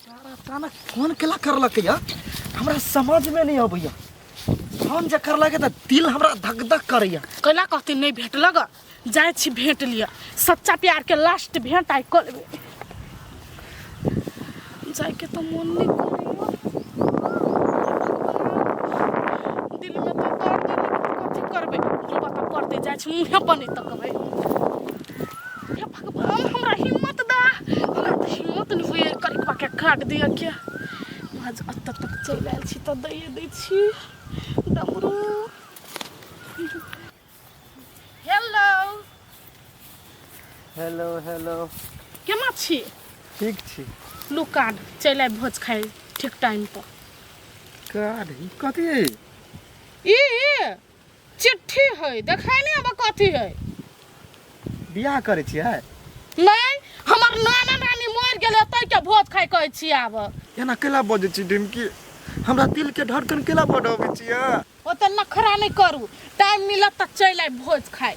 सारा अचानक फोन केला करलक या हमरा समझ में नहीं अबैया फोन जे करलक त दिल हमरा धक धक करैया कैला कहते नहीं भेटल ग जाए छी भेंट लिया सच्चा प्यार के लास्ट भेंट आई कल जाए के तो मन नहीं करेगा दिल में तो दर्द है, लेकिन कथी करबे जो बता करते जाए छी मुंहे पर नहीं तकबे हे भगवान हमरा हिम्मत दा हमरा तऽ हिम्मत नहि होइए करिकबाके काट दिअ के आज एतऽ तक चलि आयल छी तऽ दैए दै छी डमरू हेलो हेलो हेलो केना छी ठीक छी लुकान चलि आबि भोज खाइ ठीक टाइम पर काढ़ी कथी ई चिट्ठी है देखाई नहीं अब कथी है बियाह करे छियै नहीं हमर नाना नानी मर गेले तै के भोज खाय कहै छी आब एना केला बजै छी डिमकी हमरा दिल के धड़कन केला बढ़ाबै छियै ओते नखरा नहीं करू टाइम मिलत त चल आइ भोज खाय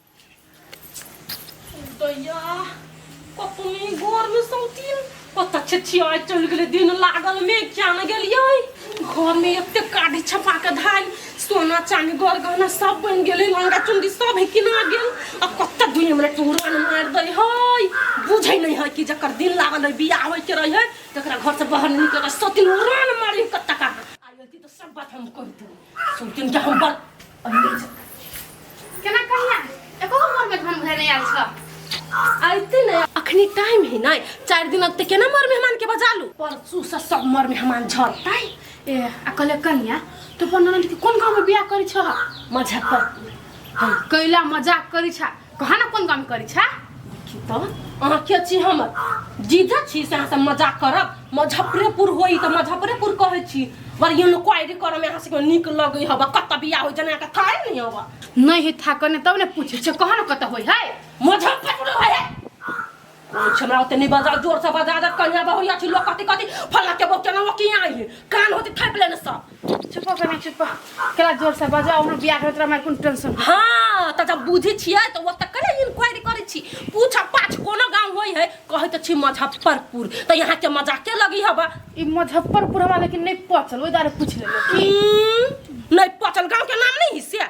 दैया कतनी घर में सौतिया पता छै छिया चल गेले दिन लागल में क्या न गेलियै घर में एते काढ़ी छपा के धाई सोना चांदी गौर गहना सब बन गेले लंगा चुंदी सब है किना गेल आ कत्ता दुनिया में टूरा न मार दे हई बुझै नहीं है कि जकर दिन लागल है बियाह होय के रहे है तकरा घर से बाहर नहीं निकल सतिन उड़ान मारी कत्ता का आयल थी तो सब बात हम कह दूँ सुन तीन टा हम बात केना कहिया एको हमर में हम घर नहीं आल छ आइते ने अखनी टाइम ही नहीं चार दिन अब ते केना मर मेहमान के बजा लू परसू से सब मर मेहमान झरतै ए आ कहले कन्या तू अपन ननद के कोन गांव में बियाह करी छ मुजफ्फरपुर कैला मजाक करी छ कहाँ ना कोन काम करी छा देखी तो अहाँ के छी हमर जीजा छी से अहाँ से मजाक करब मुजफ्फरेपुर होई तो मुजफ्फरेपुर कहै छी बर ये लोग क्वारी करऽ में अहाँ से नीक लगै हबा कत बियाह हो जना के थाए नहीं हबा नहीं है था कने तब ने पूछे छे कहाँ ना कत होई है मुजफ्फरपुर होय है छमरा ओते नहीं बजा जोर से बजा दे कन्या बहुरिया छी लोग कथी कथी फला के बहु केना की आई है कान होती थाप लेने सब चुप कर ना चुप केला जोर से बजा हमर बियाह करत हमरा कोन टेंशन हां त जब बुझी छियै त ओत कने इंक्वायरी करै छी पूछ पाछ कोनो गांव होई है कहै त छी मुजफ्फरपुर त यहां के मजाके लगी हबा ई मुजफ्फरपुर हमरा लेकिन नहीं पचल ओइ दारे पूछ लेलो की नहीं पचल गांव के नाम नहीं हिस्से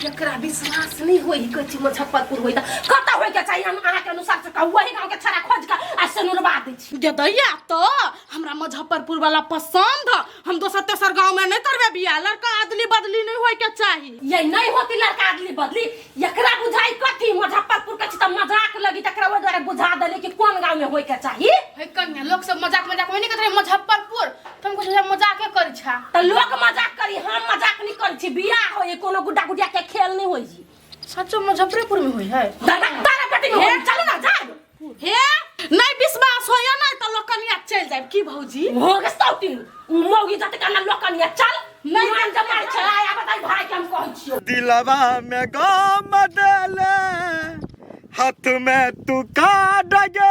केकरा विश्वास नहीं होई ई कहै छी मुजफ्फरपुर होई तऽ कतऽ होई के चाहिए हम अहाँ के अनुसार से कहू वही गांव के छड़ा खोज के आ सनुरवा दै छी गे दैया तो हमरा मुजफ्फरपुर वाला पसंद ह हम दोसर तेसर गांव में नहीं तरबे बिया लड़का अदली बदली नहीं होय के चाही ये नहीं होती लड़का अदली बदली एकरा बुझाई कथी मुजफ्फरपुर के छी तऽ मजाक लगी तकरा ओहि दुआरे बुझा देली कि कोन गांव में होई के चाहिए है कन्या लोग सब मजाक मजाक में नहीं करते मुजफ्फरपुर तुम कुछ ऐसा मजाक ही कर छा त लोग मजाक करी हम मजाक नहीं कर छी बियाह होई कोनो गुड्डा गुडिया के खेल नहीं होई जी सचो मुजफ्फरपुर में हुई है दादा तारा बेटी में होई चल ना जा हे नहीं विश्वास होया ना तो लोग कनिया चल जाए की भौजी हो के सौती उ मौगी जत काना लोग कनिया चल नहीं मान जा मार छे आया बताई भाई के हम कहै छी दिलवा में गम देले हाथ में तू का डगे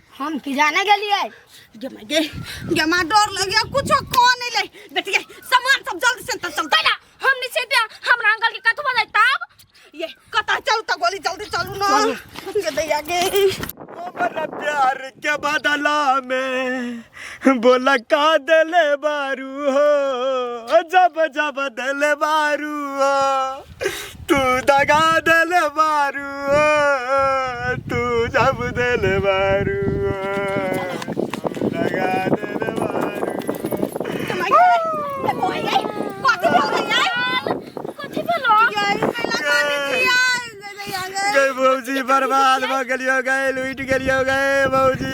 हम की जाने गेलिए गेमा गे गेमा डर लगे कुछो को नहीं ले बेच गे सामान सब जल्दी से चल तला हम नहीं से दिया हमरा अंकल के कथवा ले तब ये कता चल त गोली जल्दी चलू ना गे दैया गे हमारा प्यार के बदला में बोला का दिले बारू हो जब जब दिले बारू हो तू दगा दिल बारू ओ, तू जब दिल बारू ओ, तू दगा दिल बारू गए भौजी बर्बाद भ गेलियो गए लुट गेलियो गए भौजी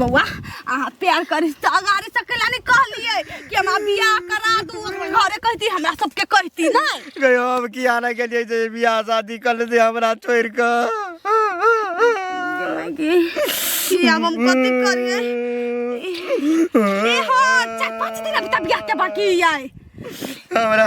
बौआ अहाँ प्यार करी तऽ अगाड़ी से कैला नहि कहलियै कि हमरा बियाह करा दू घरे कहती हमरा सबके कहती नहि गयो हम की आना के लिए जे बियाह शादी कर लेते हमरा छोड़ के कि आब हम कथी करियै ए हो चारि पाँच दिन अभी तक बियाह के बाकी आइ हमरा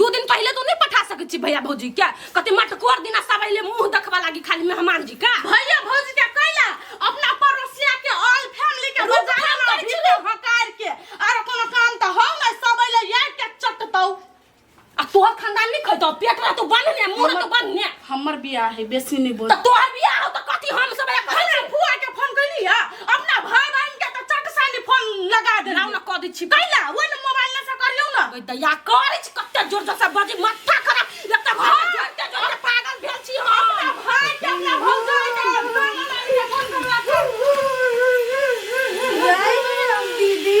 दू दिन पहले तो नहीं पठा सकत छी भैया भौजी के कते मटकोर दिना सब अइले मुंह देखबा लागी खाली मेहमान जी का भैया भौजी के कैला अपना पड़ोसिया के ऑल फैमिली के रुक, बजाय हम ना करै छी, भीतर हकार के आरो कोनो काम त हो नै सब अइले यार के चटतौ आ तोहर खानदान नहीं खैतो पेट रह तो बन ने मुंह रह तो बन ने हमर बियाह है बेसी नहीं बोल तोहर बियाह हो तो कथी हम सब एक हमरा फुआ के फोन कैली है अपना भाई बहन के तो चट सानी फोन लगा दे ना कह दी छी कैला वो न मोबाइल से करियो ना ओए दया कर छी कते जोर जोर से बजी माथा खराब एक तो घर जोर के जोर के पागल भेल छी हम अपना भाई के अपना भौजा के अपना मोबाइल से फोन करवा दीदी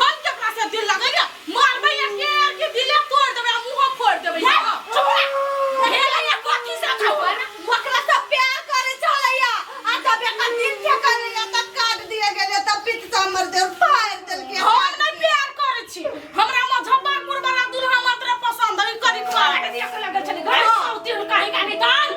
हम केकरा से दिल लगैया मारबै या केर के दिले तोड़ देबै आ मुंह फोड़ देबै जा, हाँ। चुप रह। भेलैया कथी से खबर ओकरा से प्यार करे चलैया आ जब एकर दिल से करैया तब काट दिए गेलै तब पीठ से हमर देह फाड़ि देलकै हम नै प्यार करै छी हमरा मुजफ्फरपुर वाला दुल्हा मात्र पसंद है करी काट दिया से लगल छले घर सौती हुनका ही गाने कान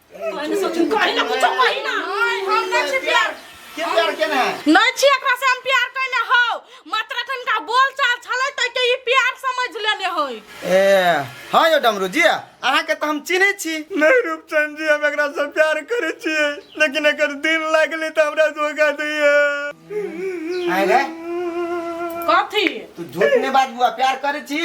हाँ यो डमरू जी अहा के तो हम चिन्हे छी नहीं रूपचंद जी हम एकरा से प्यार करे छी लेकिन अगर दिन लागले तो हमरा धोखा दिए आय रे कथी तू झूठ ने बात बुआ प्यार करे छी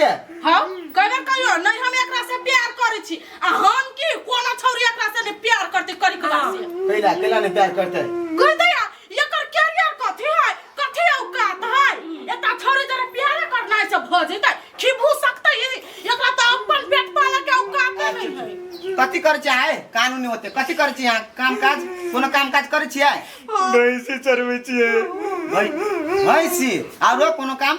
हम करे कहियो नहीं हम एकरा से प्यार करे छी आ हम की कोनो छौरी एकरा से ने प्यार करते करी के बात से कैला कैला ने प्यार करते कह दे यार, एकर कैरियर कथी है कथी औकात है एता छौरी जरा प्यार करना है से भ जइते खिबू सकते ई एकरा त अपन पेट पाले के औकात नहीं है कथी कर चाहे कानूनी होते कथी कर छी यहाँ काम काज कोनो काम काज करे छियै भैंसी चरबै छियै भै- भैंसी आरो कोनो काम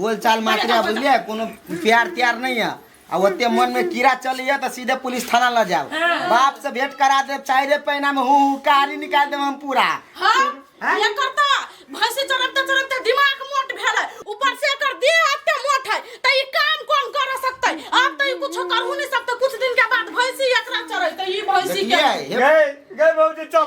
बोल चाल मात्र है बुझलिए कोनो प्यार त्यार नहीं है आ ओते मन में कीड़ा चली है तो सीधे पुलिस थाना ल जाओ बाप से भेंट करा दे चाहे रे पैना में हूँ कारी निकाल दे हम पूरा हाँ हाँ? ये करता भैंसी चरबते चरबते दिमाग मोट भेल है ऊपर से एकर देह एते मोट है त ई काम कोन कर सकते अब त ई कुछो करहु नहीं सकते कुछ दिन के बाद भैंसी एकरा चरैते ई भैंसी के देखिए हे गए गए भौजी चल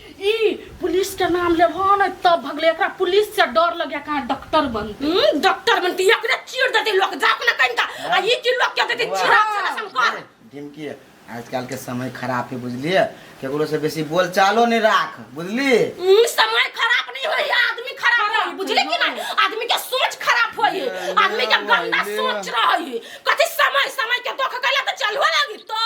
ई पुलिस के नाम लेबो ने तब भगले एकरा पुलिस से डर लगे कहाँ डॉक्टर बनते हम्म, डॉक्टर बनती एकरे चीर देती लोग जा अपना कहीं का आ ये की लोग क्या देती चिरा चिरा संकर ढिमकी आजकल के समय खराब है बुझलिए केकरो से बेसी बोल चालो नहीं राख बुझली हम्म, समय खराब नहीं हो रही आदमी खराब हो रही बुझले कि नहीं आदमी के सोच खराब हो रही आदमी के गंदा सोच रही कथी समय समय के दुख कैला तो चलवा लगी तो